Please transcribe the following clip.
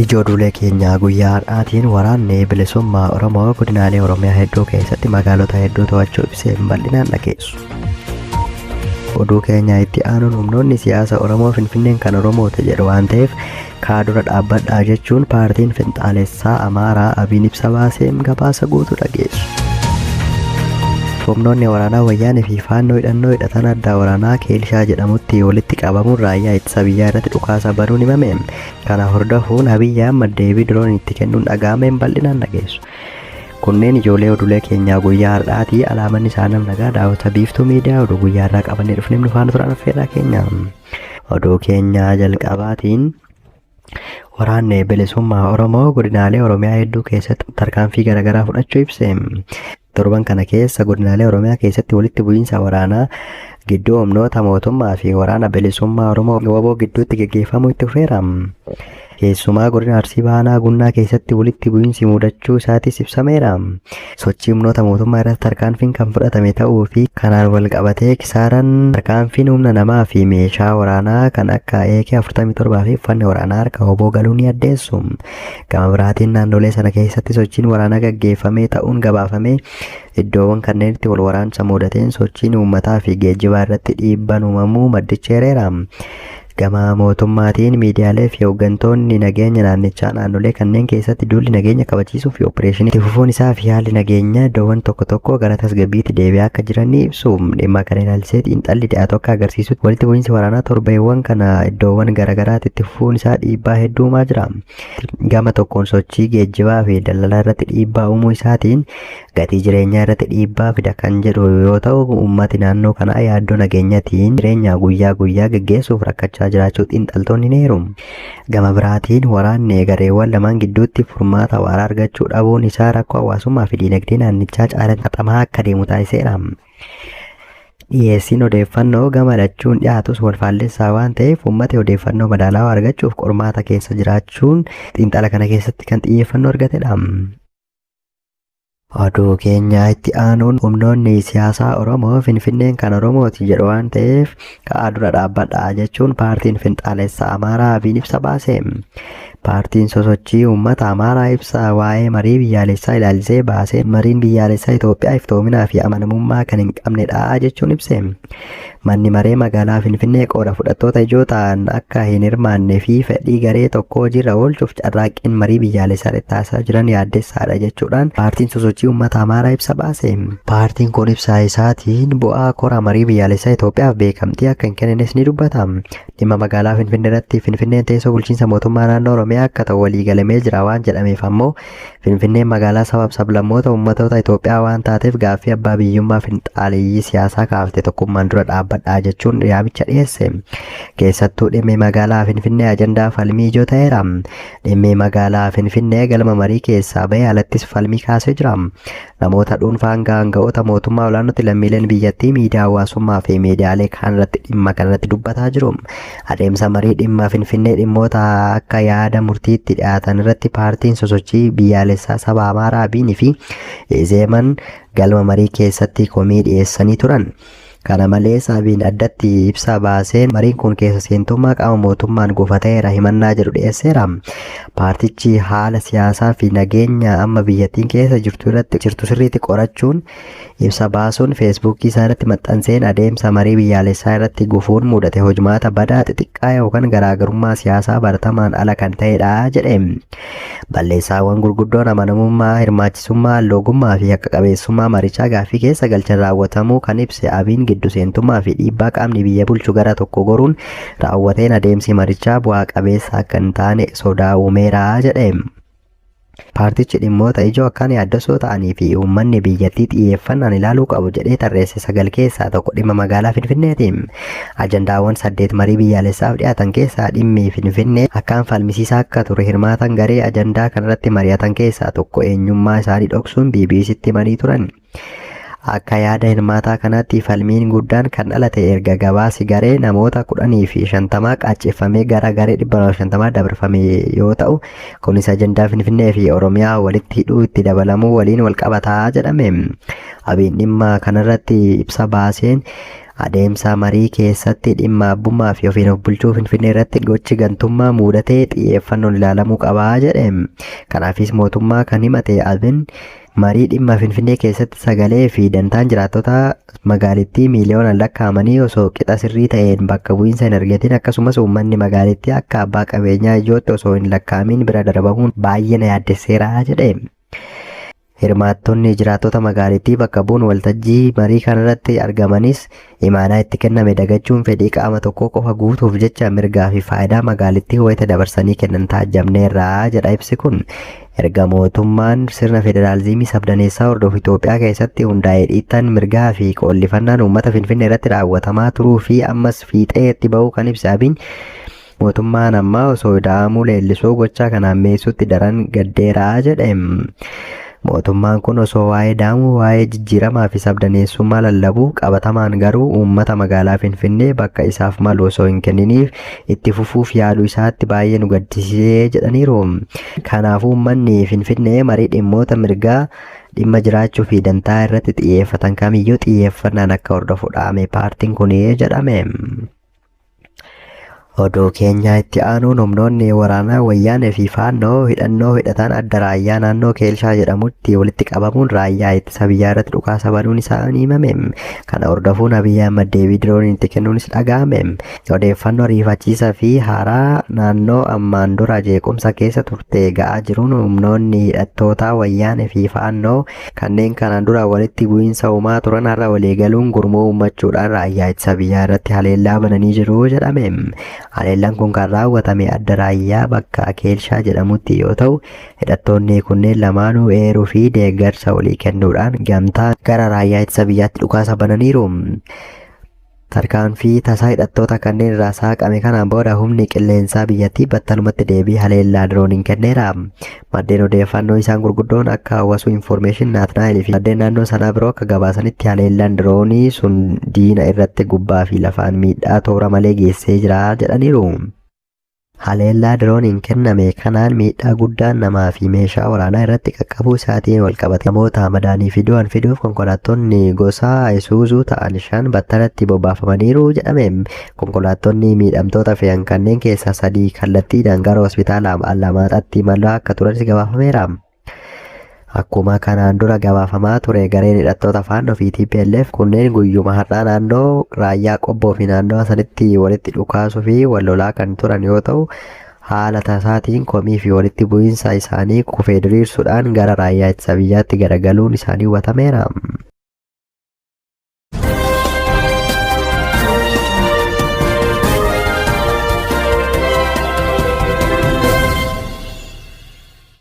Ijoollee keenya guyyaa har'aatiin waraanni bilisummaa Oromoo godinaalee Oromiyaa hedduu keessatti magaalota hedduu to'achuu ibsee bal'inaan dhageessu. Oduu keenya itti aanuun humnoonni siyaasa Oromoo Finfinneen kan Oromoota jedhu waan ta'eef kaa dura dhaabbadhaa jechuun paartiin finxaalessaa Amaaraa Abiin ibsa baaseem gabaasa guutuu dhageessu. Humnoonni waraanaa Wayyaanee fi Faannoo hidhannoo hidhatan addaa waraanaa Keelshaa jedhamutti walitti qabamuun raayyaa ittisa biyyaa irratti dhukaasa banuun himame. Kana hordofuun Abiy Ahmad deebii diroon itti kennuun dhaga'ameen bal'inaan dhageessu. Kunneen ijoollee oduulee keenyaa guyyaa har'aati. Alaamanni isaanii nagaa daawwata biiftuu miidiyaa oduu guyyaa irraa qabannee dhufneem nu faana turan affeerraa keenya. Oduu keenya jalqabaatiin waraanni bilisummaa Oromoo godinaalee Oromiyaa hedduu keessatti tarkaanfii garaagaraa fudhachuu ibse. Torban kana keessa godinaalee Oromiyaa keessatti walitti bu'iinsa waraanaa gidduu humnoota mootummaa fi waraana bilisummaa Oromoo waboo gidduutti geggeeffamuu itti fufeera. Keessumaa godina Arsii Bahaa Aanaa Gunnaa keessatti walitti bu'iinsi mudachuu isaatis ibsameera. Sochii humnoota mootummaa irratti tarkaanfiin kan fudhatame ta'uu fi kanaan wal qabatee kisaaraan tarkaanfiin humna namaa fi meeshaa waraanaa kan akka AK 47 fi uffanni waraanaa harka hoboo galuu ni addeessu. Gama biraatiin naannolee sana keessatti sochiin waraanaa gaggeeffamee ta'uun gabaafamee iddoowwan kanneenitti wal waraansa mudateen sochiin uummataa fi geejjibaa irratti dhiibbaan uumamuu maddichi eereera. Gama mootummaatiin miidiyaalee fi hoggantoonni nageenya naannichaa naannolee kanneen keessatti duulli nageenya kabachiisuu fi oppireeshinii itti fufuun isaa fi haalli nageenyaa iddoowwan tokko tokkoo gara tasgabbiitti deebi'aa akka jiran ni ibsu. Dhimma kana ilaalchisee xiinxalli dhiyaatu akka agarsiisutti walitti bu'iinsi waraanaa torbeewwan kana iddoowwan garaagaraatti itti fufuun isaa dhiibbaa hedduu uumaa jira. Gama tokkoon sochii geejjibaa fi daldalaa irratti dhiibbaa uumuu isaatiin gatii jireenyaa irratti dhiibbaa fida kan jedhu yoo ta'u, uummati naannoo kanaa yaaddoo nageenyatiin jireenya guyyaa guyyaa geggeessuuf rakkachaa jiraachuu xiinxaltoonni ni eeru. Gama biraatiin waraanni gareewwan lamaan gidduutti furmaata waaraa argachuu dhabuun isaa rakkoo hawaasummaa fi diinagdee naannichaa caalatti haxamaa akka deemu taasiseera. Dhiyeessiin odeeffannoo gama lachuun dhiyaatus wal faallessaa waan ta'eef uummati odeeffannoo madaalawaa argachuuf qormaata keessa jiraachuun xiinxala kana keessatti kan xiyyeeffannoo argatedha. Oduu keenyaa itti aanuun humnoonni siyaasaa Oromoo Finfinneen kan Oromooti jedhu waan ta'eef ka'aa dura dhaabbadhaa jechuun paartiin finxaalessa Amaaraa Abiin ibsa baase. Paartiin sosochii uummata Amaaraa ibsa waa'ee marii biyyaalessaa ilaalchisee baasee mariin biyyaalessaa Itoophiyaa iftoominaa fi amanamummaa kan hin qabnedha jechuun ibse. Manni Maree Magaalaa Finfinnee qooda fudhattoota ijoo ta'an akka hin hirmaannee fi fedhii garee tokkoo hojiirra oolchuuf carraaqqiin marii biyyaalessaa irratti taasisaa jiran yaaddessaadha jechuudhaan Paartiin Sosochii Uummata Amaaraa ibsa baase. Paartiin kun ibsa isaatiin bu'aa kora marii biyyaalessaa Itoophiyaaf beekamtii akka hin kennines ni dubbata. Dhimma magaalaa Finfinnee irratti Finfinneen teessoo bulchiinsa mootummaa naannoo Oromiyaa akka ta'u waliigalamee jira waan jedhameef ammoo Finfinneen magaalaa sabaaf sablammoota ummatoota Itoophiyaa waan taateef gaaffii abbaa biyyummaa finxaaleeyyii siyaasaa kaafte tokkummaan dura dhaabbadhaa jechuun yaamicha dhiyeesse. Keessattuu dhimmi magaalaa Finfinnee ajandaa falmii ijoo ta'eera. Dhimmi magaalaa Finfinnee galma marii keessaa bahee alattis falmii kaasee jira. Namoota dhuunfaa hanga aanga'oota mootummaa olaanootti lammiileen biyyattii miidiyaa hawaasummaa fi miidiyaalee kaan irratti dhimma kanarratti dubbataa jiru. Adeemsa marii dhimma Finfinnee dhimmoota akka yaada murtiitti dhiyaatan irratti paartiin sosochii biyyaalessaa saba Amaaraa Abiin fi Izeeman galma marii keessatti komii dhiyeessanii turan. Kana malees Abiin addatti ibsa baaseen mariin kun keessa seentummaa qaama mootummaan gufateera himannaa jedhu dhiyeesseera. Paartichi haala siyaasaa fi nageenya amma biyyattiin keessa jirtu irratti jirtu sirriitti qorachuun Ibsa baasuun Feesbuukii isaa irratti maxxanseen adeemsa marii biyyaalessaa irratti gufuun mudate hojmaata badaa xixiqqaa yookan garaagarummaa siyaasaa baratamaan ala kan ta'edha jedhe. Balleessaawwan gurguddoon amanamummaa, hirmaachisummaa, loogummaa fi haqa qabeessummaa marichaa gaaffii keessa galchan raawwatamuu kan ibse Abiin giddu seentummaa fi dhiibbaa qaamni biyya bulchu gara tokko goruun raawwateen adeemsi marichaa bu'aa qabeessa akka hin taane sodaa uumeera jedhe. Paartichi dhimmoota ijoo akkaan yaaddessoo ta'anii fi uummanni biyyattii xiyyeeffannaan ilaaluu qabu jedhee tarreesse sagal keessaa tokko dhimma magaalaa Finfinneeti. Ajandaawwan saddeet marii biyyaalessaaf dhiyaatan keessaa dhimmi Finfinnee akkaan falmisiisaa akka ture hirmaataan garee ajandaa kanarratti mari'atan keessaa tokko eenyummaa isaanii dhoksuun BBC'tti himanii turan. Akka yaada hirmaataa kanaatti falmiin guddaan kan dhalate erga gabaasi garee namoota kudhanii fi shantamaa qaacceffamee gara garee dhibba lama shantamaa dabarfame yoo ta'u kunis ajandaa Finfinnee fi Oromiyaa walitti hidhuu itti dabalamuu waliin wal qabataa jedhame. Abiin dhimma kanarratti ibsa baaseen adeemsa marii keessatti dhimma abbummaa fi ofiin of bulchuu Finfinnee irratti gochi gantummaa muudatee xiyyeeffannoon ilaalamuu qabaa jedhe. Kanaafis mootummaa kan himate Abin Marii dhimma Finfinnee keessatti sagalee fi dantaan jiraattota magaalittii miiliyoonaan lakkaa'amanii osoo qixa sirrii ta'een bakka bu'iinsa hin argatin akkasumas uummanni magaalittii akka abbaa qabeenyaa ijootti osoo hin lakkaa'amiin bira darbamuun baay'ee na yaaddesseera jedhe. Hirmaattonni jiraattota magaalittii bakka bu'uun waltajjii marii kanarratti argamanis Imaanaa itti kenname dagachuun fedhii qaama tokkoo qofa guutuuf jecha mirgaa fi faayidaa magaalittii wayita dabarsanii kennan taajjabneerra jedha ibsi kun. Erga mootummaan sirna federaalizimii sabdaneessaa hordofu Itoophiyaa keessatti hundaa'ee dhiittaan mirgaa fi qoollifannaan uummata Finfinnee irratti raawwatamaa turuu fi ammas fiixee itti ba'uu kan ibse Abiy Mootummaan ammaa osoo ida'amuu leellisuu gochaa kana hammeessuutti daran gaddeera jedhe. Mootummaan kun osoo waa'ee ida'amuu, waa'ee jijjiiramaa fi sabdaneessummaa lallabu, qabatamaan garuu uummata magaalaa Finfinnee bakka isaaf malu osoo hin kenniniif itti fufuuf yaaluu isaatti baay'ee nu gaddisiisee jedhaniiru. Kanaafuu uummanni Finfinnee marii dhimmoota mirgaa, dhimma jiraachuu fi dantaa irratti xiyyeeffatan kamiyyuu xiyyeeffannaan akka hordofu dhaame paartiin kun jedhame. Oduu keenyaa itti aanuun humnoonni waraanaa wayyaanee fi faannoo hidhannoo hidhataan adda raayyaa naannoo Keelshaa jedhamutti walitti qabamuun raayyaa ittisa biyyaa irratti dhukaasa banuun isaanii himame. Kana hordofuun Abiyyi Ahmad deebii dirooniin itti kennuunis dhaga'ame. Odeeffannoo riifachiisaa fi haaraa naannoo ammaan dura jeequmsa keessa turte ga'aa jiruun humnoonni hidhattootaa wayyaanee fi faannoo Kanneen kanaan dura walitti bu'iinsa uumaa turan har'a waliigaluun gurmuu uummachuudhaan raayyaa ittisa biyyaa irratti haleellaa bananii jiru jedhame. Haleellaan kun kan raawwatame adda raayyaa bakka Akeelshaa jedhamutti yoo ta'u, hidhattoonni kunneen lamaanuu eeruu fi deeggarsa walii kennuudhaan gamtaan gara raayyaa ittisa biyyaatti dhukaasa bananiiru. Tarkaanfii tasaa hidhattoota kanneen irraa saaqame kanaan booda humni qilleensaa biyyattii battalumatti deebii haleellaa dirooniin kenneera. Maddeen odeeffannoo isaan gurguddoon akka hawasuu infoormeeshin Naatnaayil fi maddeen naannoo sanaa biroo akka gabaasanitti haleellaan diroonii sun diina irratti gubbaa fi lafaan miidhaa toora malee geessee jira jedhaniiru. Haleellaa dirooniin kenname kanaan miidhaa guddaan namaa fi meeshaa waraanaa irratti qaqqabuu isaatiin walqabatee namoota madaanii fi du'an fiduuf konkolaattonni gosa Isuuzuu ta'an shan battalatti bobbaafamaniiru jedhame. Konkolaattonni miidhamtoota fe'an kanneen keessaa sadii kallattiidhaan gara hospitaala Allamaaxaatti imalaa akka turanis gabaafameera. Akkuma kanaan dura gabaafamaa ture gareen hidhattoota Faannoo fi TPLF kunneen guyyuma har'aa naannoo raayyaa qobboo fi naannawa sanitti walitti dhukaasuu fi wal lolaa kan turan yoo ta'u haala tasaatiin komii fi walitti bu'iinsa isaanii kufee diriirsuudhaan gara raayyaa ittisa biyyaatti garagaluun isaanii hubatameera.